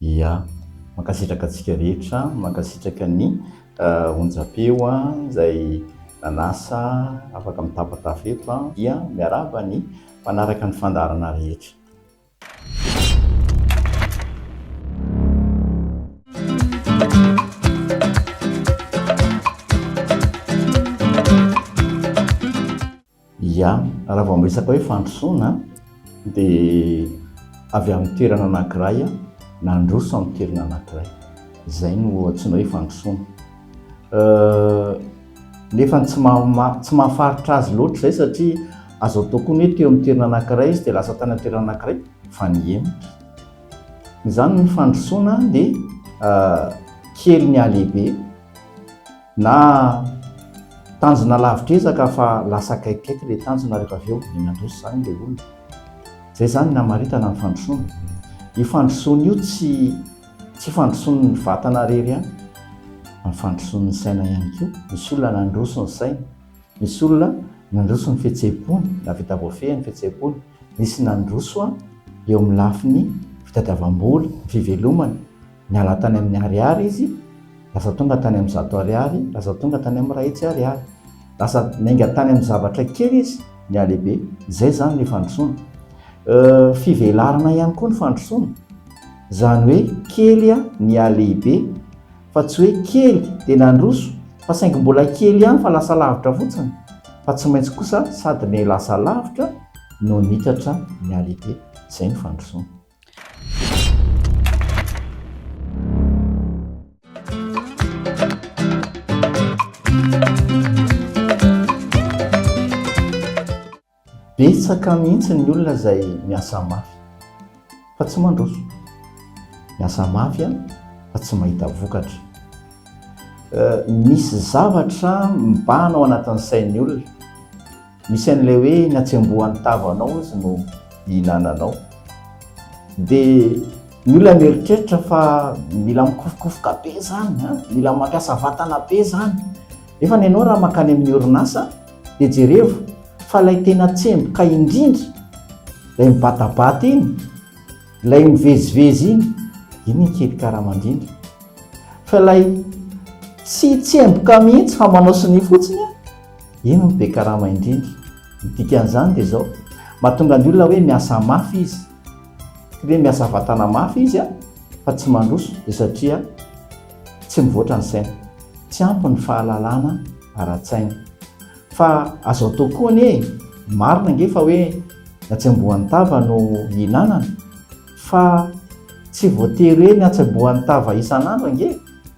Ia. Mankasitraka antsika rehetra, mankasitraka ny onjam-peo izay nanasa afaka mitapatapa eto dia miarahaba ny mpanaraka ny fandaharana rehetra. Ia, raha vao miresaka hoe fandrosoana dia avy amin'ny toerana anankiray nandroso amin'ny toerana anankiray. Izay no antsoina hoe fandrosoana. Nefa tsy tsy mahafaritra azy loatra izay satria azo atao koa ny hoe teo amin'ny toerana anankiray izy dia lasa tany amin'ny toerana anankiray fa nihemotra. Izany ny fandrosoana dia kely ny halehibe. Na tanjona lavitra ezaka fa lasa akaikikaiky ilay tanjona rehefa avy eo dia nandroso izany ilay olona. Izay izany ny hamaritana ny fandrosoana. Io fandrosoana io tsy tsy fandrosoan'ny vatana irery ihany fa ny fandrosoan'ny saina ihany koa. Misy olona nandroso ny sainy, misy olona nandroso ny fihetseham-pony na vita voafehy ny fihetseham-pony, nisy nandroso eo amin'ny lafiny fitadiavam-bola, fivelomana. Niala tany amin'ny ariary izy, lasa tonga tany amin'ny zato ariary, lasa tonga tany amin'ny iray hetsy ariary. Lasa niainga tany amin'ny zavatra kely izy, nihalehibe. Izay izany ilay fandrosoana. Fivelarana ihany koa ny fandrosoana. Izany hoe kely nihalehibe, fa tsy hoe kely dia nandroso, fa saingy mbola kely ihany fa lasa lavitra fotsiny, fa tsy maintsy kosa sady nilasa lavitra no nitatra nihalehibe. Izay ny fandrosoana. Betsaka mihitsy ny olona izay miasa mafy fa tsy mandroso. Miasa mafy a, fa tsy mahita vokatra. Misy zavatra mibahana ao anatin'ny sain'ny olona. Misy an'ilay hoe na tsy amboa ny tavanao aza no ihinananao. Dia ny olona mieritreritra fa mila mikofokofoka be izany, mila mampiasa vatana be izany. Nefa ny anao raha mankany amin'ny orinasa dia jerevo fa ilay tena tsemboka indrindra, ilay mibatabata iny, ilay mivezivezy iny, iny no kely karama indrindra. Fa ilay tsy tsemboka mihitsy fa manao sonia fotsiny an! Iny no be karama indrindra. Ny dikan'izany dia izao, mahatonga ny olona hoe miasa mafy izy. Tsy hoe miasa vatana mafy izy fa tsy mandroso dia satria tsy mivoatra ny sainy. Tsy ampy ny fahalalana ara-tsaina. Fa azo atao koa anie e! Marina ange fa hoe ny hatsembohan'ny tava no hihinanana fa tsy voatery hoe ny hatsembohan'ny tava isan'andro ange e!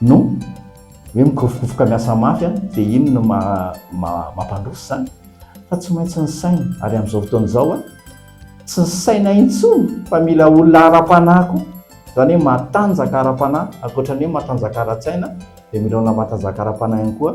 No hoe mikofokofoka miasa mafy an, dia iny no mampandroso izany. Fa tsy maintsy ny saina, ary amin'izao fotoana izao an, tsy ny saina intsony fa mila olona ara-panahy koa, izany hoe matanjaka ara-panahy, ankoatra ny hoe matanjaka ara-tsaina dia mila olona matanjaka ara-panahy ihany koa.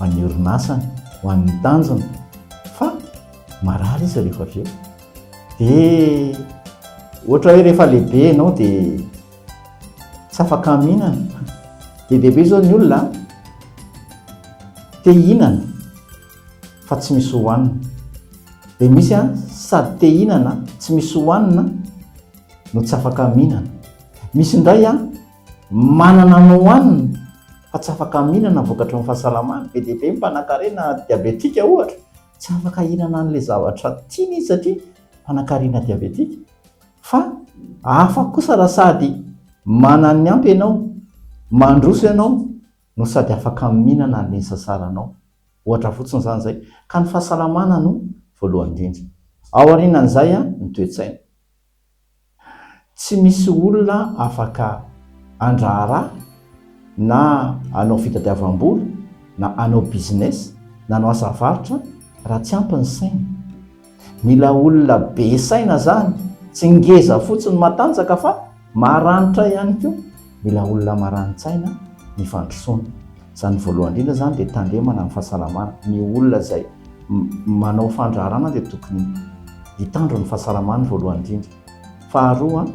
an'ny orinasany ho an'ny tanjony fa marary izy rehefa avy eo dia ohatra hoe rehefa lehibe ianao dia tsy afaka mihinana dia lehibe izao ny olona te hihinana fa tsy misy hohanina dia misy a sady te hihinana tsy misy hohanina no tsy afaka mihinana misy indray a Manana anao any fa tsy afaka mihinana vokatry ny fahasalamany, be dia be ny mpanankarena diabetika ohatra tsy afaka hihinana an'ilay zavatra tiany izy satria mpanankarena diabetika, fa hafa kosa raha sady manana ny ampy ianao, mandroso ianao no sady afaka mihinana an'ilay nisasaranao, ohatra fotsiny izany izay, ka ny fahasalamana no voalohany indrindra, ao aorianan'izay ny toe-tsaina. Tsy misy olona afaka handraharaha na hanao fitadiavam-bola na hanao business na hanao asa varotra raha tsy ampy ny sainy. Mila olona be saina izany, tsy ngeza fotsiny matanjaka fa maranitra ihany koa. Mila olona marani-tsaina ny fandrosoana. Izany voalohany indrindra izany dia tandremana ny fahasalamana. Ny olona izay manao fandraharana dia tokony hitandro ny fahasalamany voalohany indrindra. Faharoa,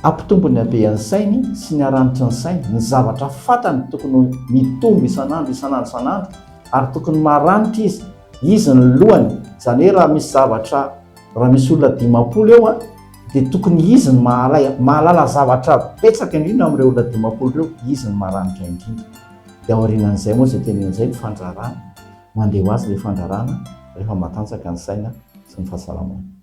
hampitombo ny habean'ny sainy sy ny haranitry ny sainy. Ny zavatra fantany tokony mitombo isan'andro, isan'andro, isan'andro ary tokony maranitra izy. Izy ny lohany. Izany hoe raha misy zavatra, raha misy olona dimampolo eo, Dia tokony izy no mahalay, mahalala zavatra betsaka indrindra amin'ireo olona dimampolo ireo, izy no maranitra indrindra. Dia aorianan'izay moa izay teneniny izay no fandrarana, mandeha ho azy ilay fandrarana rehefa matanjaka ny saina sy ny fahasalamana.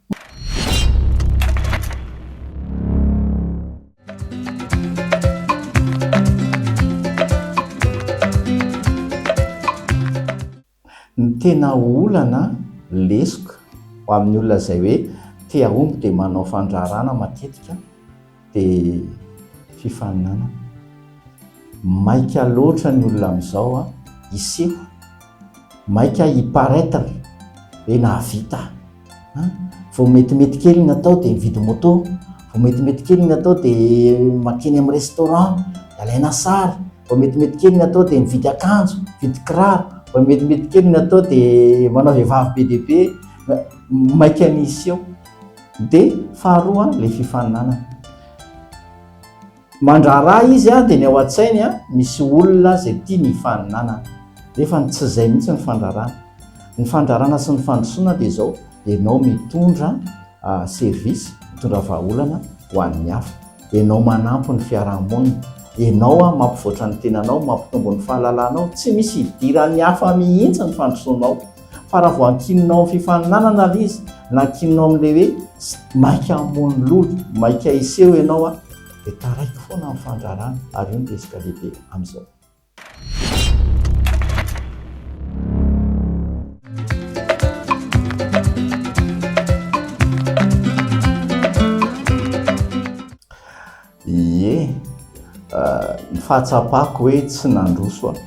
Ny tena olana, lesoka, ho amin'ny olona izay hoe te hahomby dia manao fandraharahana matetika dia fifaninanana. Maika loatra ny olona amin'izao hiseho, maika hi-paraitre hoe nahavita aho. An! vao metimety kely ny atao dia mividy moto, vao metimety kely ny atao dia mankeny amin'ny restaurant, dia alaina sary, vao metimety kely ny atao dia mividy akanjo, mividy kiraro, vao metimety kely ny atao dia manao vehivavy be dia be, maika ny hiseho. Dia faharoa ilay fifaninanana. Mandraharaha izy dia ny ao an-tsainy misy olona izay tia ny hifaninanana, nefa ny tsy izay mihitsy ny fandrarana. Ny fandrarana sy ny fandrosoana dia izao, ianao mitondra service, mitondra vahaolana ho an'ny hafa, ianao manampy ny fiaraha-monina, ianao mampivoatra ny tenanao, mampitombo ny fahalalanao, tsy misy idiran'ny hafa mihitsy ny fandrosoanao. Fa raha vao ankinina ao amin'ny fifaninanana ilay izy, na ankinina ao amin'ilay hoe maika hamono lolo, maika hiseho ianao an, dia taraiky foana ny fandrarana ary io no resaka lehibe amin'izao. Ie, ny fahatsapako hoe tsy nandroso aho,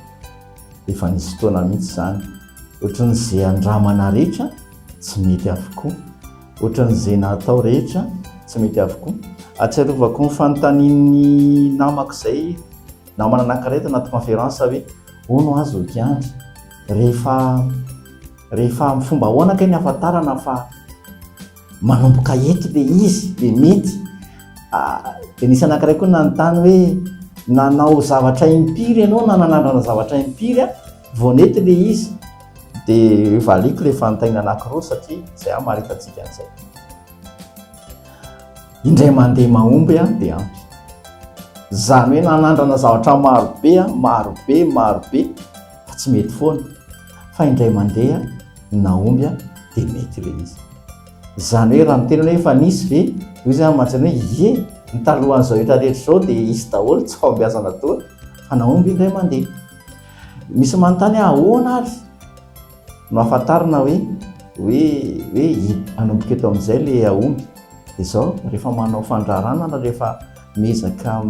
efa nisy fotoana mihitsy izany, ohatran'ny izay andramana rehetra tsy mety avokoa, ohatran'ny izay natao rehetra tsy mety avokoa. Ahatsiarovako ny fanontanian'ny namako izay, namana anankiray tao anaty conférence hoe, hono aho Zoky Andry, rehefa, rehefa amin'ny fomba ahoana kay ny ahafantarana fa. Manomboka eto le izy le mety dia nisy anankiray koa nanontany hoe nanao zavatra impiry ianao na nanandrana zavatra impiry a vao nety le izy dia valiako le fanontaniana anankiroa satria izay aho maripatsika an'izay indray mandeha mahomby a dia ampy izany hoe nanandrana zavatra marobe a marobe marobe fa tsy mety foana fa indray mandeha ny nahomby dia mety ilay izy. Izany hoe raha miteny hoe efa nisy ve, hoy izy aho mantsy hoe ie, ny talohan'izao hetra rehetra izao dia hisy daholo, tsy fahombiazana toa fa nahomby indray mandeha. Misy manontany ahy ahoana ary no ahafantarana hoe hoe hoe hanomboka eto amin'izay ilay hahomby dia izao rehefa manao fandraharana na rehefa miezaka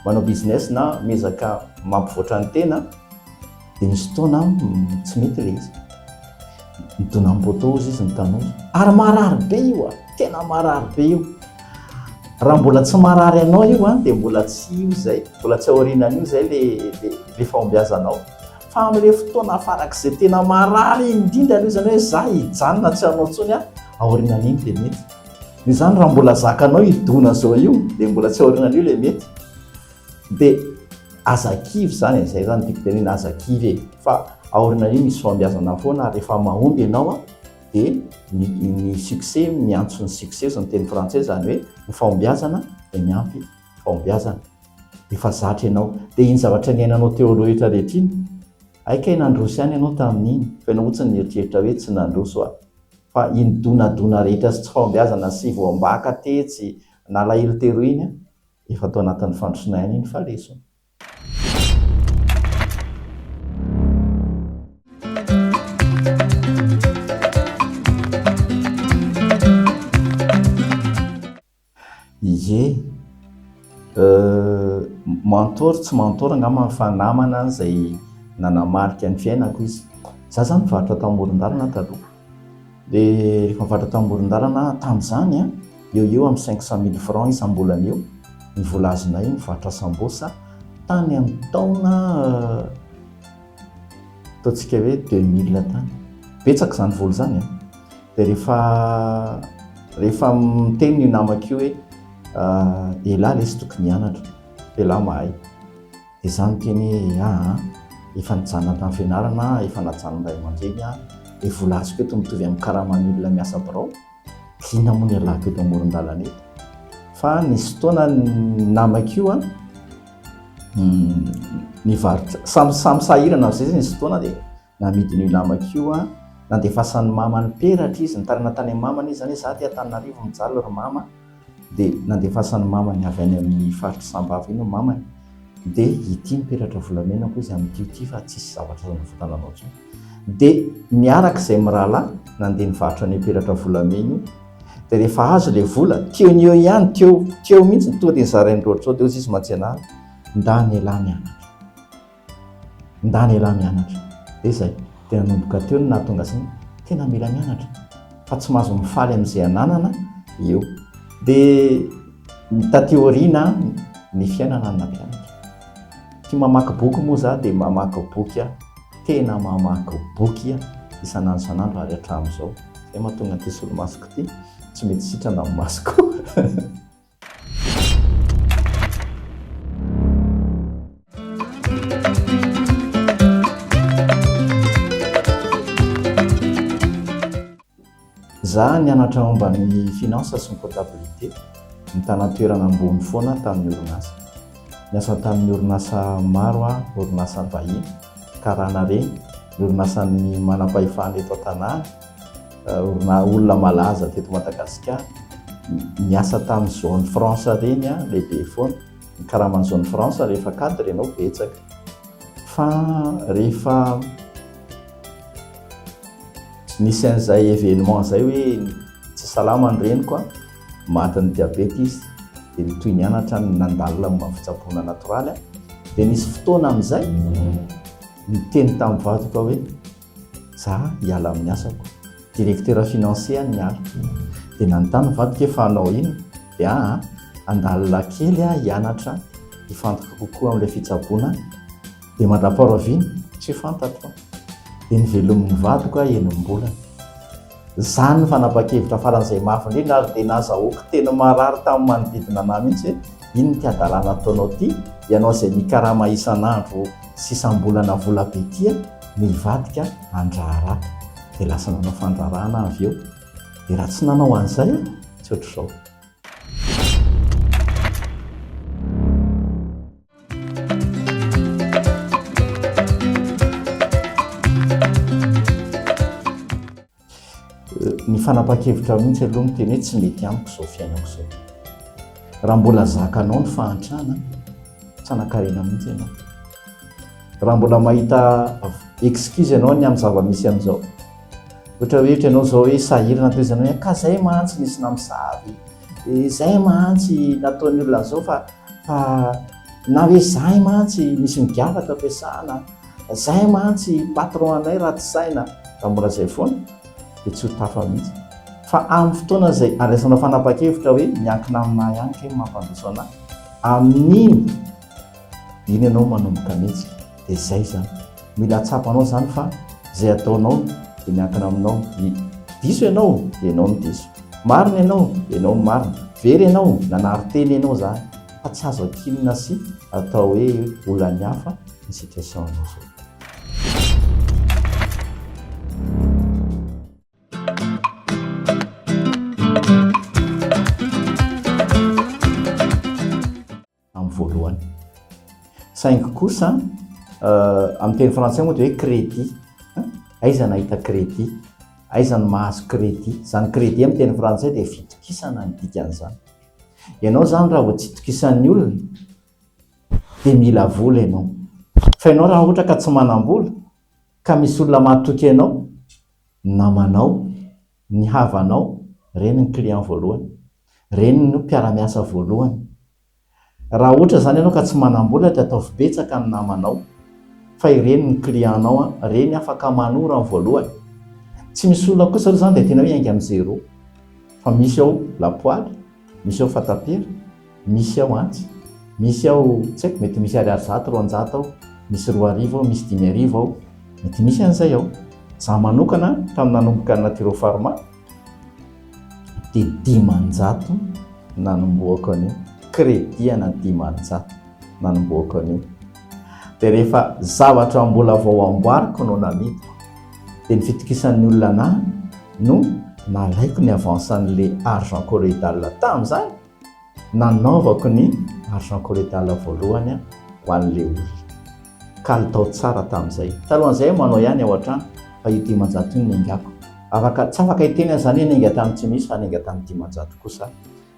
manao business na miezaka mampivoatra ny tena Dia nisy fotoana tsy mety ilay izy. Nidona amin'ny poteau hozy izy ny tanora. Ary marary be io a, tena marary be io. Raha mbola tsy marary anao io a, dia mbola tsy io izay, mbola tsy aorianan'io izay ilay fahombiazanao. Fa amin'ilay fotoana farak'izay tena marary indrindra aloha izany hoe za hijanona tsy hanao intsony aho, aorianan'iny dia mety. Noho izany raha mbola zakanao hidona izao io, dia mbola tsy aorianan'io ilay mety. Dia aza kivy izany e, izay izany no tiako tenenina, aza kivy e, fa aoriana an'io misy fahombiazana foana ary rehefa mahomby ianao dia ny, ny succès miantso ny succès ozy ny teny frantsay, izany hoe ny fahombiazana dia miampy fahombiazana, efa zatra ianao. Dia iny zavatra niainanao teo aloha rehetra rehetra iny, hay kay nandroso ihany ianao tamin'iny, fa ianao fotsiny nieritreritra hoe tsy nandroso aho, fa iny donadona rehetra sy tsy fahombiazana sy voambaka tetsy, nalahelo teroa iny an! Efa tao anatin'ny fandrosona ihany iny fa lesona. Ie, euh, mentor tsy mentor angamba fa namana izay nanamarika ny fiainako izy. Izaho izany nivarotra tao amoron-dalana taloha. Dia nivavaka tao amoron-dalana aho tamin'izany an, eo ho eo amin'ny cinq cent mille francs isam-bolana eo ny vola azonay nivarotra sambosa tany amin'ny taona ataontsika hoe deux mille tany. Betsaka izany vola izany an! Dia rehefa rehefa miteny io namako io hoe elah lesy tokony hianatra, elah mahay. Ezaho miteny hoe aah an! Efa nijanona tamin'ny fianarana aho, efa najanon'ny ray aman-dreny aho, ny vola azoko eto mitovy amin'ny karaman'ny olona miasa birao, liana moa ny ialako eto amoron-dalana eto. Fa nisy fotoana ny namako io an, nivarotra, samy sahirana avy izay, nisy fotoana dia Namidin'io namako io aho, nandefasan'ny mamany peratra izy, nitarina tany amin'ny mamany izy, izany hoe izaho aty Antananarivo mijaly ry mama, dia nandefasan'ny mamany avy any amin'ny faritr'i Sambava iny ny mamany, dia ity ny peratra volamena hoy izy, amin'ity ity fa tsisy zavatra azo anavotana anao intsony. Dia niaraka izahay mirahalahy nandeha nivarotra an'io peratra volamena io, dia rehefa azo ilay vola, teo ny eo ihany, teo, teo mihitsy, tonga dia nizarain'i Rojo, dia hoy izy, izy mantsy anah, ndà an'ialahy ny anako. Ndany elah mianatra. Dia izay. Dia nanomboka teo no nahatonga azy hoe tena mila mianatra fa tsy mahazo mifaly amin'izay ananana eo. Dia taty aoriana ny fiainana no nampianatra. Tia mamaky boky moa izaho dia mamaky boky aho, tena mamaky boky aho isan'andro isan'andro ary hatramin'izao. Izay no mahatonga an'ity solomasoko ity tsy mety sitrana ny masoko. Zah nianatra momba ny finance sy ny comptabilité, nitana toerana ambony foana tamin'ny orinasa. Niasa tamin'ny orinasa maro aho, orinasa vahiny, karana reny, ny orinasan'ny manam-pahefana eto an-tanàna. Orina olona malaza teto Madagasikara niasa tamin'ny zone France ireny an, lehibe foana ny karaman'ny zone France rehefa cadre ianao betsaka fa rehefa nisy an'izay événement izay hoe tsy salama ny reniko an, matin'ny diabeta izy dia ny toy ny anatra nandalina momba ny fitsaboana natoraly an, dia nisy fotoana amin'izay niteny tamin'ny vadiko aho hoe. Za hiala amin'ny asako. Directeur financier an'i Mialy. Dia nanontany ny vadiko hoe fa hanao inona? Dia ahy an, handalina kely aho hianatra hifantoka kokoa amin'ilay fitsaboana dia mandrapaharoa vina? Tsy fantatro an! Dia novelomin'ny vadiko aho enim-bolana. Izany ny fanapahan-kevitra faran'izay mafy indrindra ary dia nazahoako teny marary tamin'ny manodidina anah mihitsy hoe, iny ity hadalana ataonao ity, ianao izay mikarama isan'andro sy isam-bolana vola be ity an, no hivadika handraharaha. Dia lasa nanao fandraharahana aho avy eo. Dia raha tsy nanao an'izay aho, tsy ohatr'izao. ny fanapahan-kevitra mihitsy aloha ny teny hoe tsy mety amiko izao fiainako izao raha mbola zakanao ny fahantrana tsy anakarena mihitsy ianao raha mbola mahita excuse ianao ny amin'ny zava-misy an'izao ohatra hoe ohatra ianao izao hoe sahirana toy izany hoe ka izay mantsy nisy namosavy Izay mantsy nataon'ny olona zao fa fa na hoe zay mantsy misy ny gafatra ampiasana, zay mantsy patron anay ratsy saina, raha mbola zay foana dia tsy ho tafa mihitsy. Fa amin'ny fotoana izay andraisanao fanapahan-kevitra hoe miankina aminà ihany kay ny mampandroso anà, amin'iny. Iny ianao manomboka mihitsy dia izay izany. Mila hatsapanao izany fa izay ataonao dia miankina aminao. Diso ianao dia ianao no diso. Marina ianao dia ianao no marina. Very ianao, nanary tena ianao izany fa tsy azo ankinina sy atao hoe olan'ny hafa ny situation anao izao. amin'ny voalohany. Saingy kosa amin'ny teny frantsay moa dia hoe crédit. Aiza nahita crédit? Aiza no mahazo crédit? Izany crédit amin'ny teny frantsay dia fitokisana ny dikan'izany. Ianao izany raha vao tsy itokisan'ny olona dia mila vola ianao. Fa ianao raha ohatra ka tsy manam-bola ka misy olona mahatoky anao, namanao, Ny havanao, ireny ny client voalohany. Ireny no mpiara-miasa voalohany. Raha ohatra izany ianao ka tsy manam-bola dia ataovy betsaka ny namanao fa ireny no client-nao, ireny afaka manoro amin'ny voalohany. Tsy misy olona kosa aloha izany dia tena hoe hiainga amin'ny zéro fa misy ao lapoaly. Misy ao fatapera, misy ao antsy, misy ao tsy haiko mety misy ariary zato, roanjato ao, misy roa arivo ao, misy dimy arivo ao, mety misy an'izay ao. Izaho manokana tamin'ny nanomboka ny Naturo Pharma dia dimanjato nanombohako an'io, credit ana dimanjato nanombohako an'io. dia rehefa zavatra mbola vao amboariko no namidiko dia ny fitokisan'ny olona ahy no nalaiko ny avance an'le argent corredal tamin'izany nanaovako ny argent corredal voalohany ho an'le olona kalitao tsara tamin'izay talohan'izay aho manao ihany ao an-trano fa io dimanjato io no niaingako afaka tsy afaka hiteny aho izany hoe niainga tamin'ny tsy misy fa niainga tamin'ny dimanjato kosa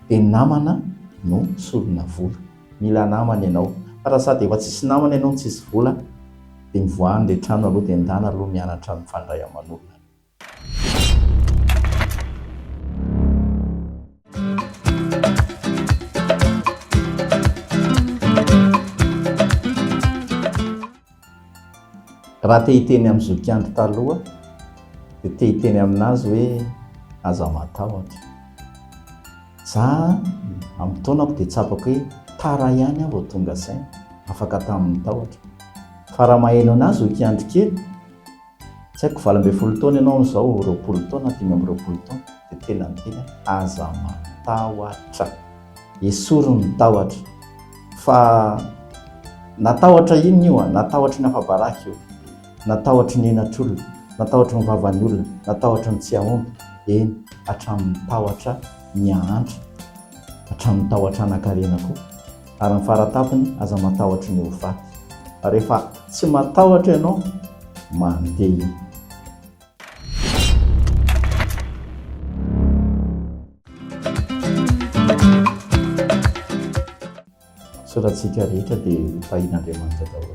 dia namana no solona vola Mila namana ianao. Fa raha sady efa tsisy namana ianao no tsisy vola dia mivoaha ny rehetra any aloha dia endana aloha mianatra mifandray aman'olona aloha. Raha te hiteny amin'ny zokiandro taloha dia te hiteny aminazy hoe aza matahotra. Za amin'ny taonako dia tsapako hoe tara ihany aho vao tonga saina, afaka tamin'ny tahotra. Fa raha maheno anazy zokiandro kely, Tsy haiko valo ambin'ny folo taona ianao izao roapolo taona dimy amby roapolo taona dia tena ny teny aza matahotra esory ny tahotra fa na tahotra inona io a na tahotra ny afabaraka io na tahotra ny henatr'olona na tahotra ny vavan'ny olona na tahotra ny tsy hahomby eny hatramin'ny tahotra ny hahantra hatramin'ny tahotra hanankarena koa ary ny faratapiny aza matahotra ny ho faty fa rehefa tsy matahotra ianao mandeha soratsika rehetra dia hotahin'Andriamanitra daholo.